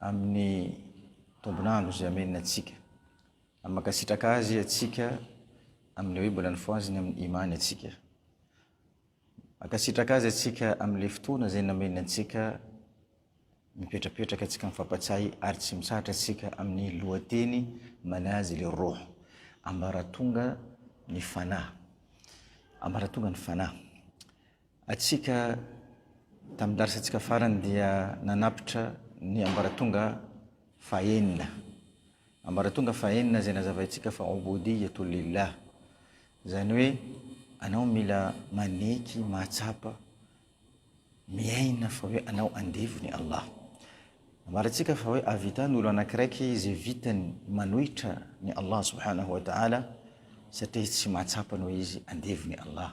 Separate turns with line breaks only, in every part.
amin'ny tombon'andro izay ameniny antsika. Ary mankasitraka Azy antsika amin'ny hoe mbola nifohaziny amin'ny Iman antsika. Mankasitraka Azy antsika amin'ilay fotoana izay nameniny antsika mipetrapetraka antsika mifampatsiahy ary tsy mitsahatra antsika amin'ny lohateny manazy ilay roh, ambaratonga ny fanahy. Ambaratonga ny fanahy. Antsika, tamin'ny darisantsika farany dia nanapitra ny ambaratonga fahenina. Ambaratonga fahenina izay nazavaintsika fa Ouboudiyyatoul Lillah. Izany hoe anao mila maneky, mahatsapa, miaina fa hoe anao andevon'i Allah. Nambarantsika fa hoe ahavita ny olona anakiraiky izay vitany manohitra ny Allah subhanahu wa ta'ala satria izy tsy mahatsapa ny hoe izy andevon'i Allah.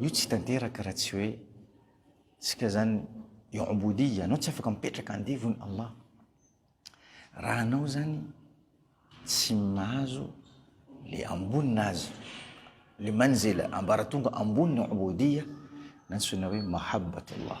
Io tsy tanteraka raha tsy hoe tsika zany i'ubudiyyah, anao tsy afaka mipetraka andevon Allah raha anao zany tsy mahazo le ambony nazy le manzila ambaratonga ambony i'ubudiyyah nantsoina hoe mahabbat Allah.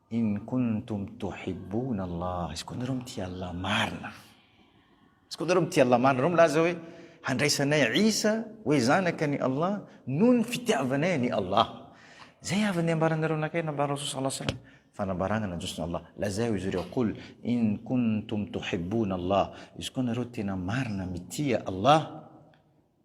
In kuntum tuhibbuna Allah, izy koa nareo mitia Allah marina, izy koa nareo mitia Allah marina, nareo milaza hoe handraisanay Isa hoe zanaka ny Allah noho ny fitiavanay an'i Allah. Zay avy ny ambaranareo anakay nambaran'i Rasoul sallallahu alayhi wa sallam fanambarana nandroso Allah. Lazao izy ireo qul in kuntum tuhibbuna Allah, izy koa nareo tena marina mitia Allah,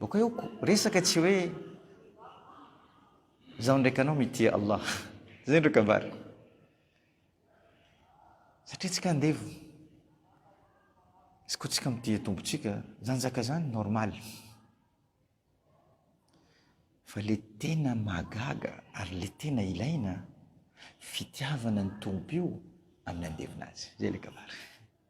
Boko eo ko resaka tsy hoe zaho ndraiky anao mitia Allah. Zay ndreo kabary. Satria tsika andevo. Izy ko tsika mitia tompotsika, zany zaka zany normal. Fa le tena mahagaga ary le tena ilaina fitiavana ny tompo io amin'ny andevona azy. Zay le kabary.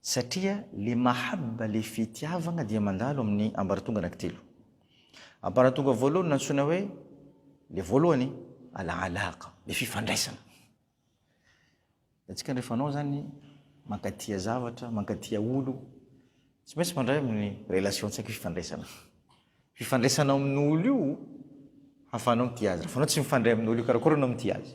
Satria le mahabba le fitiavagna dia mandalo amin'ny ambaratonga anankitelo. Ambaratonga voalohany nantsoina hoe le voalohany alahalaha-ka, le fifandraisana. Hitantsika rehefa anao zany mankatia zavatra, mankatia olo, tsy maintsy mandray amin'ny relation-tsaika hoe fifandraisana. Fifandraisanao amin'olo io hahafahanao mitia azy. Raha fa anao tsy mifandray amin'olo io, karakôry anao mitia azy?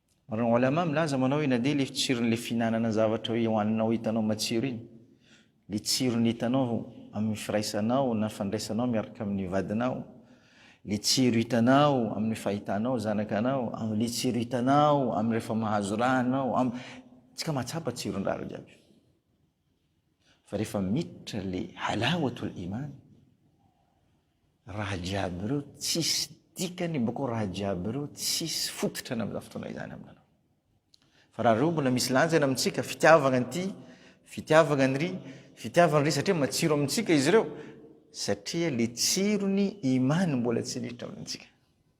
Ary ny Olama milaza manao ina dia ilay tsiron'ilay fihinanana zavatra hoe hohaninao hitanao matsiro iny, ilay tsirony hitanao amin'ny firaisanao na fandraisanao miaraka amin'ny vadinao, ilay tsiro hitanao amin'ny fahitanao zanakanao, amin'ilay tsiro hitanao amin'ny rehefa mahazo ra anao, am-, tsika mahatsapa tsiron-drara jiaby io. Fa rehefa miditra ilay halawatul iman, Raha jiaby ireo tsisy dikany boko raha jiaby ireo tsisy fototrany amin'izany fotoana izany aminanao. Fa raha ireo mbola misy lanjany amintsika, fitiavagna an'ity, fitiavagna an'iry, fitiavagna an'iry satria matsiro amintsika izy ireo, satria le tsiron'ny imany mbola tsy miditra amintsika.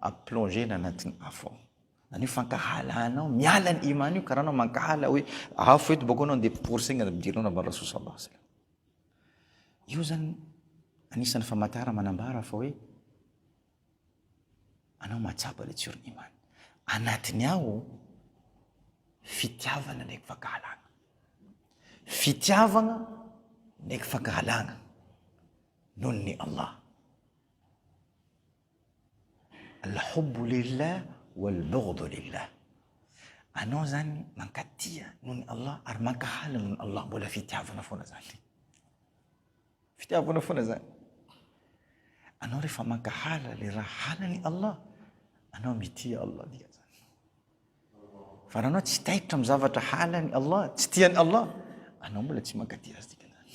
A plonger na anatin'ny afo ao. Zany hoe fankahalana ao, miala ny iman io ka raha anao mankahala hoe afo eto boko anao dia pory saigna ampidirinao na bala sosa basy. Io zany anisan'ny famatara manambara fa hoe anao mahatsapa le tsorony iman. Anatiny ao fitiavana ndraiky fankahalana. Fitiavana ndraiky fankahalana noho ny Allah. Al-hubbu lillah wal-bughdu lillah, anao zany mankatia noho ny Allah ary mankahala noho ny Allah, mbola fitiavana foana zany, fitiavana foana zany. Anao rehefa mankahala le raha halan'i Allah, anao mitia Allah dikan'zany. Fa raha anao tsy taitra amin'ny zavatra halan'i Allah, tsy tian'i Allah, anao mbola tsy mankatia azy dikan'zany.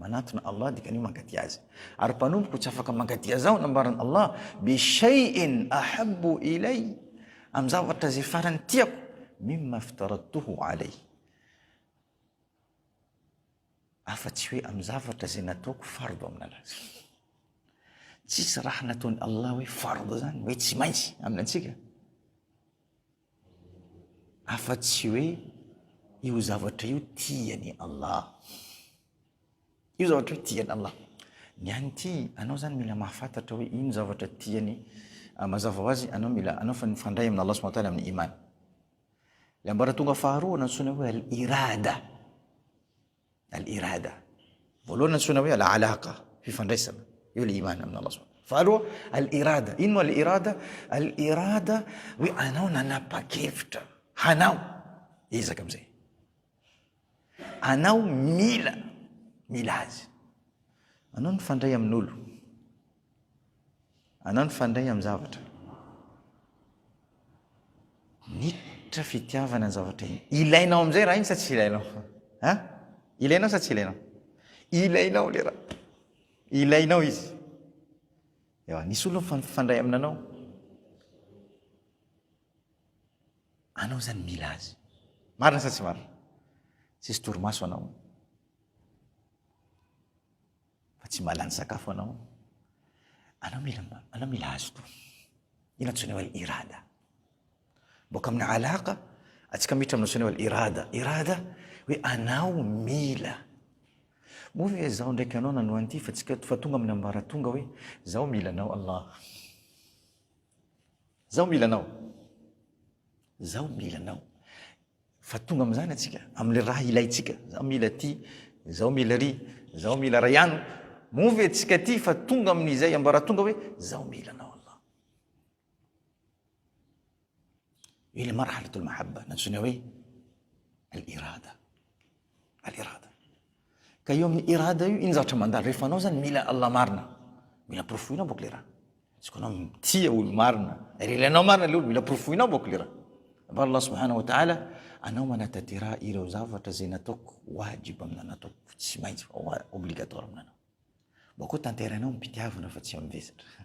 Manatona Allah dikany hoe mankaty Azy. Ary mpanompoko tsy afaka mankaty Azy aho nambaran' Allah, bi shay'in ahabbu ilay, amin'ny zavatra izay farany tiako, mimma iftaradtuhu alay, afa tsy hoe amin'ny zavatra izay nataoko fard aminan' Azy. Tsisy raha nataon' Allah hoe fard zany hoe tsy maintsy amin' antsika. afa-tsy hoe io zavatra io tian'i Allah. Io zavatra io tian'i Allah. Ny an'ny ty, anao zany mila mahafantatra hoe ino zavatra tiany, ah, mazava ho azy, anao mila, anao fa nifandray amin' Allah subhanahu wa ta'ala amin'ny iman. Le ambaratonga faharoa nantsoina hoe al-irada. Al-Irada. Voalohany antsoina hoe Al-Alaqa, fifandraisana. Eo le iman amin' Allah Subhanahu. Faharoa, Al-Irada. Ino moa Al-Irada? Al-Irada hoe anao nanapa-kevitra hanao ezaka am'zay. Anao mila, mila azy. Anao mifandray amin'olo. Anao nifandray amin'ny zavatra. Nitra fitiavana ny zavatra iny. Ilainao amin'izay raha iny sa tsy ilainao? Ha? Ilainao sa tsy ilainao? Ilainao le raha. Ilainao izy. Eo, nisy olona nifandray aminanao. Anao zany mila azy. Marina sa tsy marina? Tsisy torimaso anao. Fa tsy mba lany sakafo anao. Anao mila anao mila azo toa. Io no antsoina hoe irada. Boaka amin'ny alaka, atsika miditra amin'ny antsoina hoe irada. Irada hoe anao mila. Moa ve izaho ndraiky anao nanoa an'ity fa tsika fa tonga amin'ny ambaratonga hoe zaho mila anao Allah. Zaho mila anao. Zaho mila anao. Fa tonga amin'izany antsika, amin'ilay raha ilaintsika. Izaho mila ity, izaho mila iry, izaho mila ray ano. Moa ve tsika tia fa tonga amin'izay ambaratonga hoe, izaho mila anao Allah. Io ilay marhalatul mahabba, nantsoina hoe al-irada. Al irada. Ka io amin'ny irada io, iny zavatra mandalo rehefa anao zany mila Allah marina. Mila porofoina bôk le raha. Izy koa anao mitia olo marina, ary ilainao marina le olo, mila porofoinao bôk le raha. Fa Allah subhanahu wa ta'ala, anao manatatera ireo zavatra zay nataoko wajib aminao, nataoko tsy maintsy, obligatoire aminanao. Mbô koa tanterainao am-pitiavana fa tsy am-vesatra.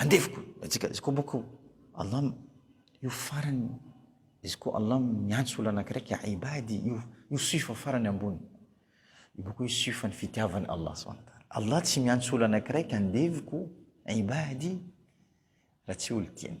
Andevoko atsika izy koa boko Allah io farany izy koa Allah miantso olona anankiray ka ibadi io io sifa farany ambony io boko io sifan'ny fitiavany Allah subhanahu wa ta'ala Allah tsy miantso olona anankiray ka andevoko ibadi raha tsy olo tiany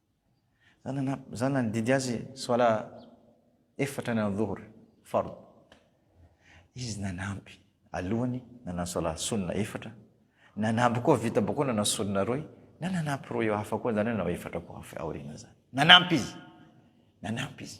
Zany na zany nandidy azy soala efatra ny andhuhr fard. Izy nanampy alohany nanao soala sunna efatra, nanampy koa vita boko nanao sunna roy, na nanampy roy hafa koa zany hoe nanao efatra koa hafa aoriana zany. Nanampy izy. Nanampy izy.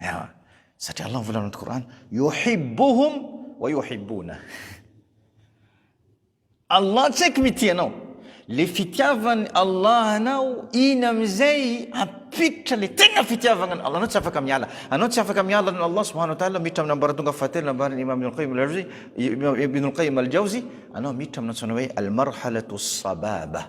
Ewa. Satria Allah mivolana anaty Kor'any, yuhibbuhum wa yuhibbuna. Allah tsy haiko mitia anao. Le fitiavan'i Allah anao, iny amin'izay hampiditra le tena fitiavagna anao. Anao tsy afaka miala. Anao tsy afaka miala an'i Allah subhanahu wa ta'ala miditra amin'ny ambaratonga fahatelo nambaran'i Imam Ibn al-Qayyim al-Jawzi, Ibn al-Qayyim al-Jawzi, anao miditra amin'ny antsoina hoe al-marhalatu as-sababa.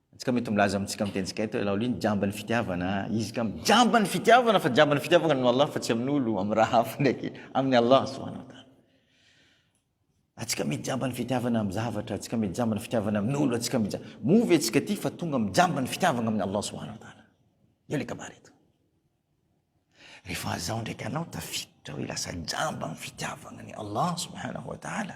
Antsika mety milaza amintsika amin'ny tenintsika eto hoe laoly jamba ny fitiavana izy ka mijamba ny fitiavana fa jamba ny fitiavana no Allah fa tsy amin'olo amin'ny raha hafa ndraiky amin'ny Allah subhanahu wa ta'ala atsika mety jamba ny fitiavana amin'ny zavatra atsika mety jamba ny fitiavana amin'olo atsika mety moa ve atsika ty fa tonga mijamba ny fitiavana amin'ny Allah subhanahu wa ta'ala eo le kabary eto rehefa azaho ndraiky anao tafiditra hoe lasa jamba ny fitiavana ny Allah subhanahu wa ta'ala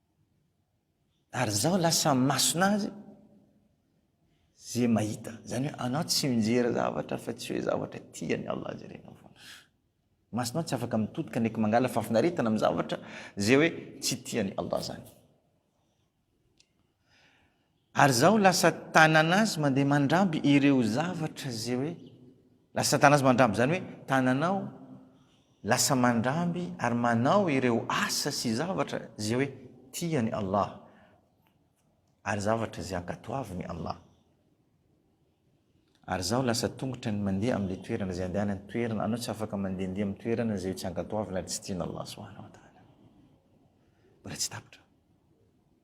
Ary zao lasa masona azy ze mahita. Zany hoe anao tsy mijery zavatra fa tsy hoe zavatra tiany Allah jerenao foana. Masonao tsy afaka mitodika ndraiky mangala fahafinaretana amin'ny zavatra ze hoe tsy tiany Allah zany. Ary zaho lasa tanana azy mandeha mandramby ireo zavatra ze hoe lasa tanana azy mandramby zany hoe tananao lasa mandramby ary manao ireo asa sy zavatra ze hoe tiany Allah ary zavatra ze ankatoaviny Allah ary zaho lasa tongotra ny mandeha amle toerana ze andehana ny toerana anao tsy afaka mandehandeha amin'ny toerana ze tsy ankatoavina ary tsy tiany Allah subhanahu wa ta'ala mbola tsy tapitra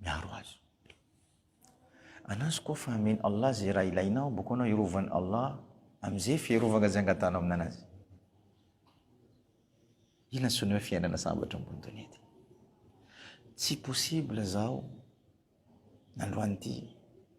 miaro azy. Anazy koa fa amin' Allah izay raha ilainao, boko anao hirovan' Allah amin'izay fiarovana izay angatahanao amin'Anazy. Ina ny sonia hoe fiainana sambatra ambony donia ity? Tsy possible zao nandroany ity.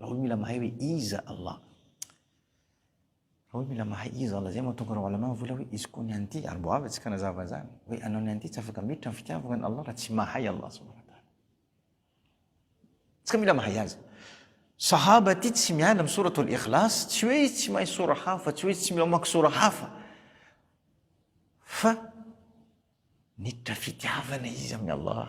Raoul mila mahay hoe iza Allah. Raoul mila mahay iza Allah, zay mahatonga Raoul anao vola hoe izy koa ny an'ity, ary mbo avy atsika nazava izany, hoe anao ny an'ity tsy afaka miditra ny fitiavagna an'i Allah raha tsy mahay Allah Subhanahu wa Ta'ala. Tsika mila mahay azy. Sahaba ity tsy miala amin'ny sourate al-ikhlas, tsy hoe izy tsy mahay sora hafa, tsy hoe izy tsy mila mamaky sora hafa, fa niditra fitiavana izy amin'i Allah.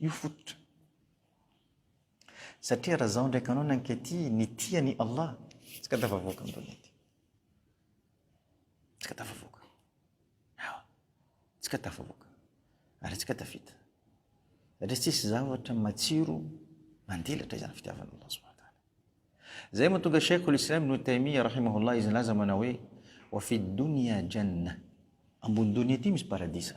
Io fototra. Satria raha zao ndraiky anao nankety ny tia ny Allah, tsy ka tafavoaka ny donia ty. Tsy ka tafavoaka. Hawa. Tsy ka tafavoaka. Ary tsy ka tafita. Satria tsisy zavatra matsiro mandilatra izany fitiavana Allah subhanahu wa ta'ala. Zay matonga Sheikh al-Islam Ibn Taymiyyah rahimahullah izy nilaza manao hoe wa fi dunya janna. Ambony donia ty misy paradisa.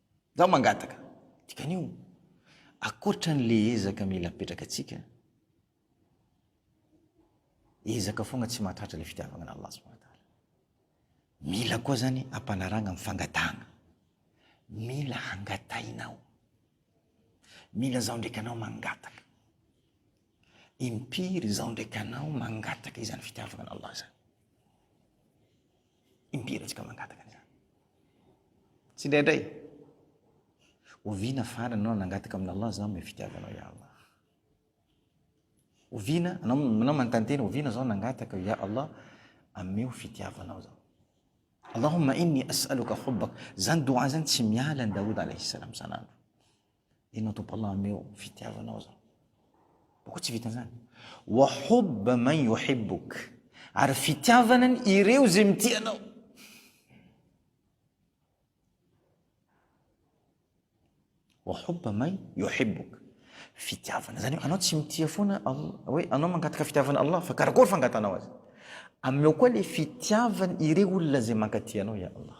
Izaho mangataka, dikan'io, ankoatra an'ilay ezaka mila apetrakantsika, ezaka foagna tsy mahatratra ilay fitiavagna an'Allah subhanahu wa ta'ala. Mila koa zany ampanarahagna amin'ny fangatahagna. Mila hangatahinao. Mila izaho ndraiky anao mangataka. Impiry izaho ndraiky anao mangataka izany fitiavagna an'Allah izany. Impiry antsika mangataka an'izany? Tsindraindray, oviana farany ianao nangataka amin'Allah izany mba fitiavanao ya Allah? Oviana, anao, anao manontany tena, oviana izao nangataka ya Allah ameo fitiavanao izao? Allahumma inni as'aluka hubbak. Izany doha izany tsy miala ny Daoud alayhi salam san'andro. Enao Tompo Allah ameo fitiavanao zao. Boko tsy vitan zany. Wa hubba man yuhibbuk. Ary fitiavana ny ireo izay mitia anao. Wa hubba man yuhibbuk. Fitiavana zany hoe anao tsy mitia foana hoe anao mangataka fitiavana Allah fa karakory fangatanao azy. Ameo koa le fitiavana ireo olona izay mankatia anao ya Allah.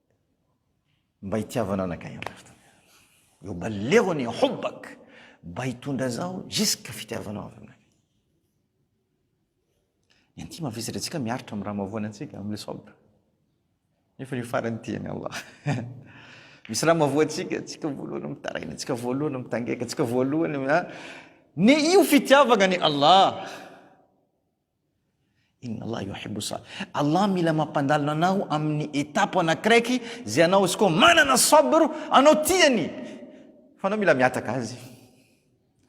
Mba hitiavana anakay Andry Rajoelina. Yubalighuni hubbak, mba hitondra zaho jusque fitiavanao avy aminakay. Ny an'ity mavesatra antsika miaritra amin'ny raha mahavoana antsika amin'ny sabr. Nefa ny farany ity an'i Allah. Misy raha mahavoa antsika, antsika voalohany mitaraina, antsika voalohany mitangaika, antsika voalohany ah, ny io fitiavagna an'i Allah. Inna Allah yuhibbu sa. Allah mila mampandalina anao amin'ny étape anakiraiky zay anao izy koa manana sabr anao tiany fa anao mila mihataka azy.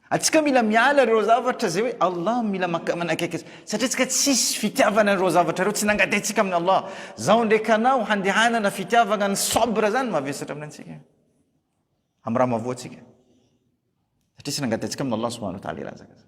Atsika mila miala ireo zavatra zay hoe Allah mila maka manakaiky azy satria tsika tsisy fitiavana an'ireo zavatra ireo tsy nangataintsika amin'ny Allah. Zao ndraiky anao handehanana fitiavagna ny sabr zany mavesatra amin'ny antsika amin'ny raha mavoa antsika satria tsy nangataintsika amin'ny Allah subhanahu wa ta'ala i razaka zany.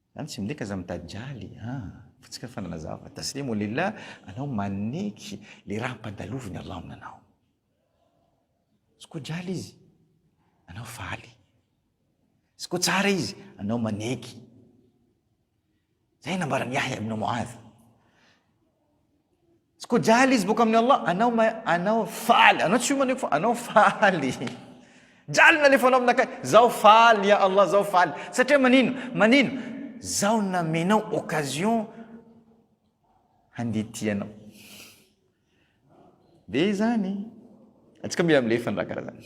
Zany tsy midika aza mitajaly ah. Fa tsika fa nanazava taslim wa lillah anao maneky le raha ampandaloviny Allah aminanao. Izy koa jaly izy anao faly. Izy koa tsara izy anao maneky. Zay nambaran'i Yahya ibn Mu'adh. Tsy ko jaly izy boka amin'ny Allah, anao ma anao faly, anao tsy omaneko fa anao faly. Jaly ny nalefanao aminakay, zaho faly ya Allah zaho faly. Satria manino? Manino? Zaho namenao occasion handihy tia anao. Dia izany. Antsika mila milefa ny raha karaha zany.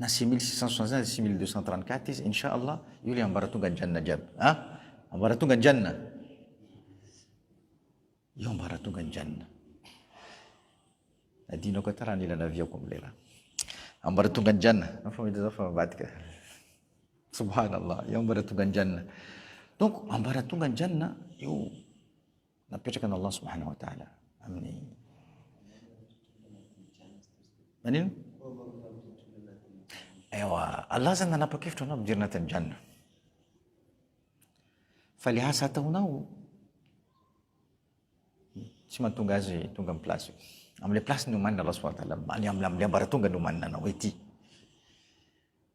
na six mille six cent soixante cinq na six mille deux cent trente quatre izy insha allah io le ambaratonga ny janona jiaby a ambaratonga ny janona io ambaratonga ny janona adino ko atara ny ilana aviako am'lay raha ambaratonga ny janona na fa mety zao fa mivadika subhanallah io ambaratonga ny janona donc ambaratonga ny janona io napetrakan' Allah subhanahu wa ta'ala amin'ny manino ewa Allah zany nanapa-kevitra anao mijery anatin'ny janna fa le asa ataonao tsy mahatonga azy tonga amin'ny place amin'le place ny omanina Allah subhanahu wa ta'ala am'le ambaratonga ny omanina anao ety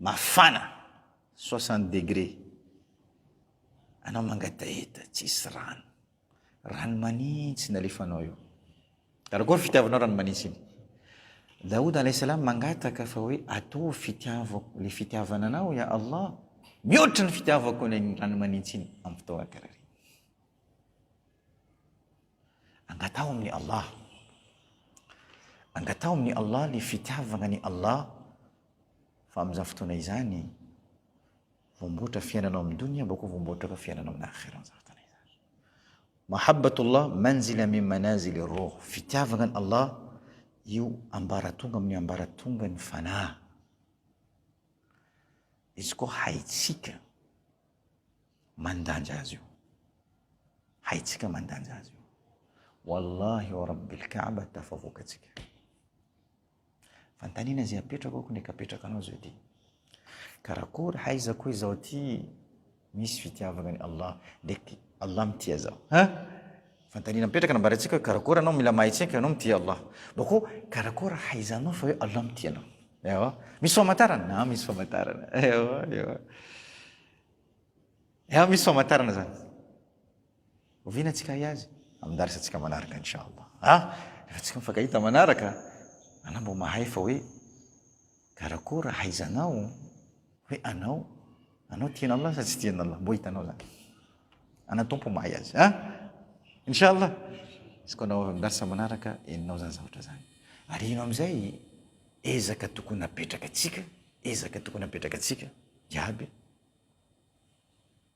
Mafana soixante degre anao mangataheta tsisy rano. Rano manitsy nalefanao eo. Karakory fitiavanao rano manitsy iny. Daoud alayhi salam mangataka fa hoe ataovy fitiavako le fitiavana anao ya Allah. Mihoatra ny fitiavako le rano manitsy iny am fotoana karaha reny. Angataho amin'ny Allah. Angataho amin'ny Allah le fitiavagna ny Allah Fa amin'izany fotoana izany, voamboatra fiainana ao amin'ny donia, bako voamboatra koa fiainana ao amin'ny akhira amin'izany fotoana izany. Mahabbatullah manzila min manazili roh, fitiavana an'i Allah io ambaratonga amin'ny ambaratongan'ny fanahy. Izy koa haitsika mandanja azy io. Haitsika mandanja azy io. Wallahi wa rabbil kaaba tafavoaka atsika. Fanontaniana izay apetrako aho, nefa apetraka anao izao ity. Karakory haizako hoe izaho ity misy fitiavana an'i Allah, dia Allah mitia zaho. Ha? Fanontaniana mipetraka nambarantsika hoe karakory anao mila mahay tsinka anao mitia Allah. Bako karakory haizanao fa hoe Allah mitia anao. Ewa. Misy famantarana? Na misy famantarana. Ewa, ewa. Ewa, misy famantarana zany. Oviana tsika ahay azy amin'ny darsa tsika manaraka inchallah a! Rehefa tsika mifankahita manaraka anao mba mahay fa hoe karakôry ahaizanao hoe anao anao tian'Allah sa tsy tian'Allah mbo hitanao zany ana Tompo mahay azy a! Inchallah izy koa anao avy amin'ny darsa manaraka henonao zany zavatra zany ary ino amin'izay ezaka tokony apetraka tsika ezaka tokony apetraka tsika iaby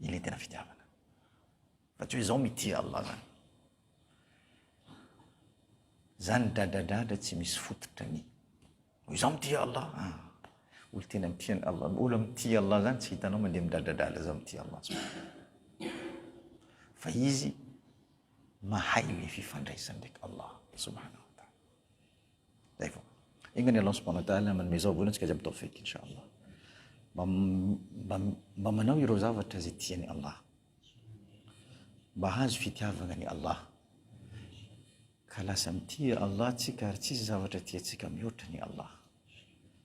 Ilay tena fitiavana. Fa tsy hoe izaho mitia Allah zany. Zany dradradradra tsy misy fototra ny. Ho izaho mitia Allah. Ah. Olo tena mitia ny Allah. Olo mitia Allah zany tsy hitanao mandeha midradradradra izaho mitia Allah. Fa izy mahay le fifandraisany ndraiky Allah subhanahu wa ta'ala. Zay vao. Enga ny Allah subhanahu wa ta'ala manome zao vola antsika jiaby tawfiq inshallah. Mba mba mba manao ireo zavatra izay tian'i Allah. Mba hahazo fitiavana an'i Allah. Ka lasa mitia Allah tsika ary tsisy zavatra tiantsika mihoatra an'i Allah.